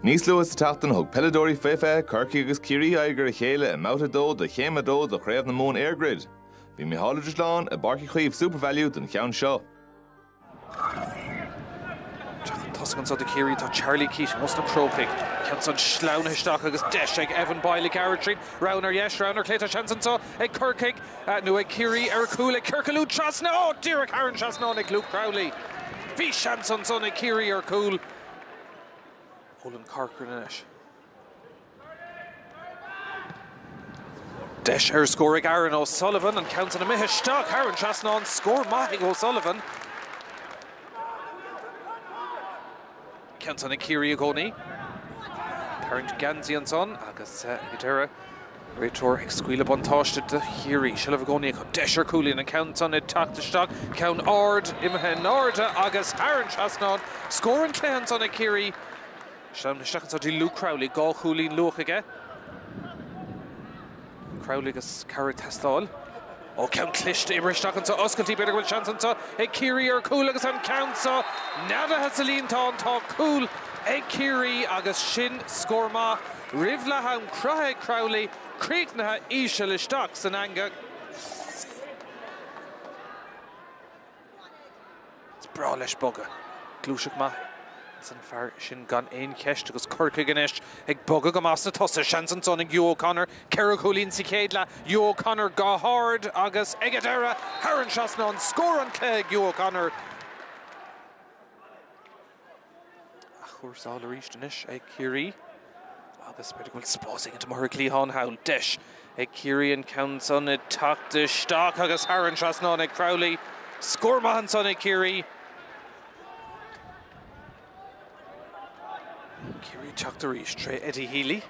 Níos luath sa tseachtain thug peileadóirí fé fiche Corcaigh agus Ciarraí aghaidh ar a chéile i mbabhta 2 de Chéim 2 de Chraobh na Mumhan EirGrid. Bhí Micheál Ó Drisleáin i bPáirc Uí Chaoimh Supervalu don cheann seo. Tosach anseo do Ciarraí tá Charlie Keating ós na Crócaigh. Ceann san sleamhnaithe isteach agus deis ag Evan Boyle ag gearradh tríd. Roghanna ar dheis, roghanna ar chlé, tá seans anseo ag Corcaigh. Nó ag Ciarraí ar cúl ag ciorcalú trasna á díreach thar an trasnán ag Luke Crowley. Bhí seans ansan ag Ciarraí ar chúl. Olan Corcoran anois. Deis ar scór ag Aaron O'Sullivan, an ceann san imithe isteach thar an trasnán, scór maith ag O'Sullivan. ceann san ag Ciarraí i gcónaí. Tarraingt geansaí ansan agus ag an deireadh. Réiteoir ag scaoileadh buntáiste do Chiarraí. Seilbh i gcónaí acu. Deis ar cúilín. An ceann san ag teacht isteach. Ceann ard imithe in airde agus thar an trasnán. Scór an cluiche ansan ag Ciarraí. Sleamhnaithe isteach anso dtí Luke Crowley. Dhá chúilín luath aige. Crowley agus cabhair ag teastáil, ó ceann cliste oibrithe isteach anso oscailtí. B'fhéidir go bhfuil seans anseo ag Ciarraí ar chúl agus an ceann seo neadaithe sa líontán. Tá cúl ag Ciarraí agus sin scór maith roimh leath am. Cruthaithe ag Crowley críochnaithe íseal isteach san eangach. Is breá leis bogadh. Gluaiseacht maith ins an fear sin gan aon cheist agus Corcaigh anois ag bogadh go maith sna tosaigh. Seans ansan ag Hugh O'Connor. Ceithre chúilín sa chéad leath. Hugh O'Connor go hard agus ag an deireadh thar an trasnán. Scór an cluiche ag Hugh O'Connor. Athchúrsáil arís anois ag Ciarraí agus b'fhéidir go bhfuil spás éigin amuigh ar an gcliathán thall. Deis ag Ciarraí an ceann san ag teacht isteach agus thar an trasnán ag Crowley. Scór maith ansan ag Ciarraí. Ciarraí ag teacht arís tré Eddie Healy.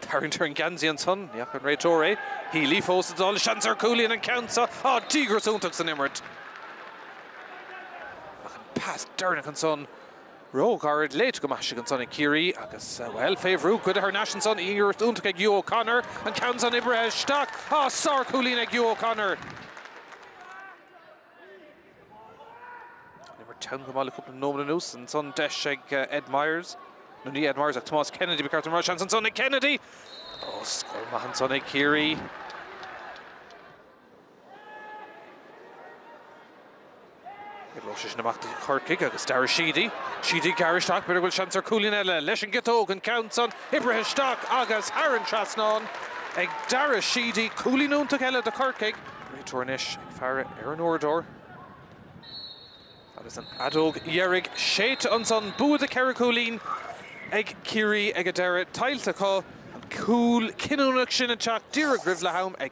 Tarraingt ar an geansaí ansan. Ní fhaca an réiteoir é. Healy fós ag dul. Seans ar chúilín an ceann seo. Á, díograis iontach san imirt. Ach an pas deireanach ansan. Ró-ghairid. Léite go maith istigh ansan ag Ciarraí agus, bhuel, fé bhrú, cuireadh thar n-ais ansan. Díograis iontach ag Hugh O'Connor. An ceann san oibrithe isteach. Á, sár-chúilín ag Hugh O'Connor. Imirt ana-mhaith le cúpla nóiméad anuas ansan, deis ag Ed Myers, nó ní Ed Myers ach Tomás Kennedy, ba cheart dom a rá, seans ansan ag Kennedy! Ó, scór maith ansan ag Ciarraí. Oibreoidh sé sin amach do Chorcaigh agus Darragh Sheedy, Sheedy ag gearradh isteach, b'fhéidir go bhfuil seans ar cúilín eile leis an giotóg, an ceann san, oibrithe isteach agus thar an trasnán ag Darragh Sheedy, cúilín iontach eile do Chorcaigh. Réiteoir anois. faire ar an uaireadóir. Agus an fheadóg dheiridh séidte ansan, bua de ceithre chúilín ag Ciarraí ag an deireadh. Tuillte acu an cúl cinniúnach sin ag teacht díreach roimh leath-am ag.